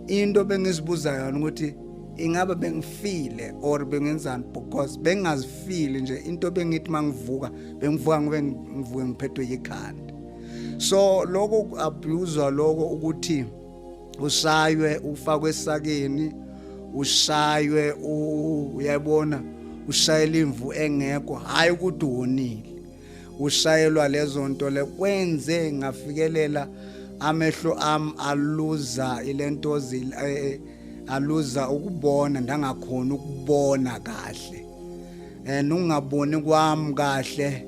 into bengizibuza yona ukuthi ingabe bengifile or bengenzani because bengingazifili nje into bengithi mangivuka bengivuka ngobe ngivuke ngiphethwe yikhanda so lokho kuabuzwa lokho ukuthi ushaywe ufakwe esakeni ushaywe uyabona ushayela imvu engekho hayi ukuthi wonile ushayelwa lezo nto le kwenze ngafikelela amehlo am aluza ilento eh, aluza ukubona ndangakhona ukubona kahle eh nungaboni kwami kahle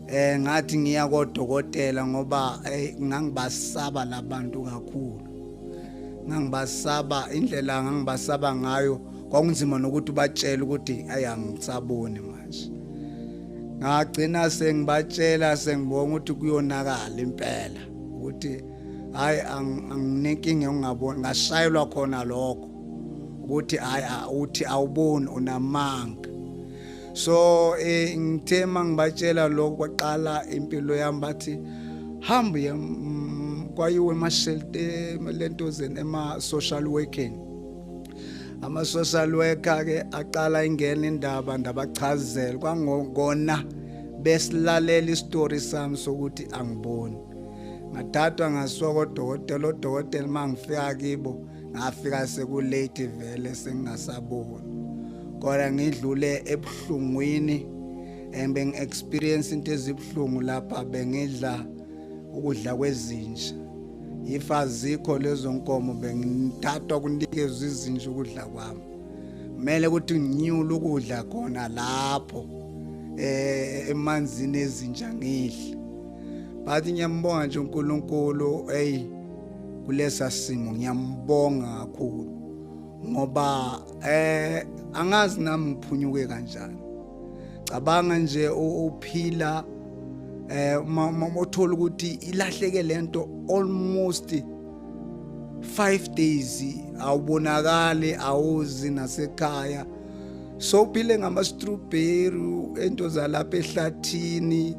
eh ngathi ngiya kodokotela ngoba eh, ngangibasaba labantu kakhulu ngangibasaba indlela ngangibasaba ngayo kwakunzima nokuthi ubatshele ukuthi ayangisaboni manje ngagcina sengibatshela sengibonga ukuthi kuyonakala impela ukuthi hayi anginenkinga yokungaboni ngashayelwa khona lokho ukuthi hayi uthi awuboni unamanga so eh, ngithe uma ngibatshela lokho kwaqala impilo yami bathi hambe kwayiwe emashelteni lentozeni ema-social working ama-social worker-ke aqala ingena indaba ndabachazela kwangokona besilalela isitori sami sokuthi angiboni ngathathwa ngasuka kodokotela odokotela uma ngifika kibo ngafika sekulate vele sengingasaboni kodwa ngidlule ebuhlungwini and bengi-experience into ezibuhlungu lapha bengidla ukudla kwezinja if azikho lezo nkomo bengithathwa kunikezwa izinja ukudla kwami kumele ukuthi nginyule ukudla khona lapho eh emanzini ezinja ngidle but ngiyambonga nje uNkulunkulu hey kulesa simo ngiyambonga kakhulu ngoba eh angazi nami ngiphunyuke kanjani cabanga nje uphila eh mama mothola ukuthi ilahleke lento almost 5 days awubonakali awuzi nasekhaya so phile ngama strawberry ento zalapha ehlathini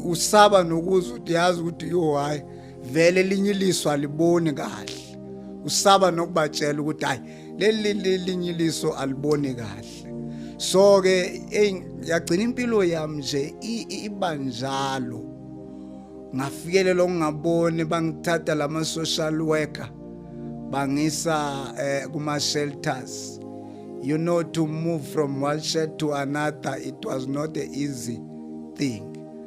usaba nokuza ukuthi yazi ukuthi yo hayi vele linye iliso aliboni kahle usaba nokubatshela ukuthi hayi leli linye iliso aliboni kahle so ke yagcina impilo yami nje ibanjalo ngafikelela ukungaboni bangithatha lama social worker bangisa eh, kuma shelters you know to move from one shed to another it was not an easy thing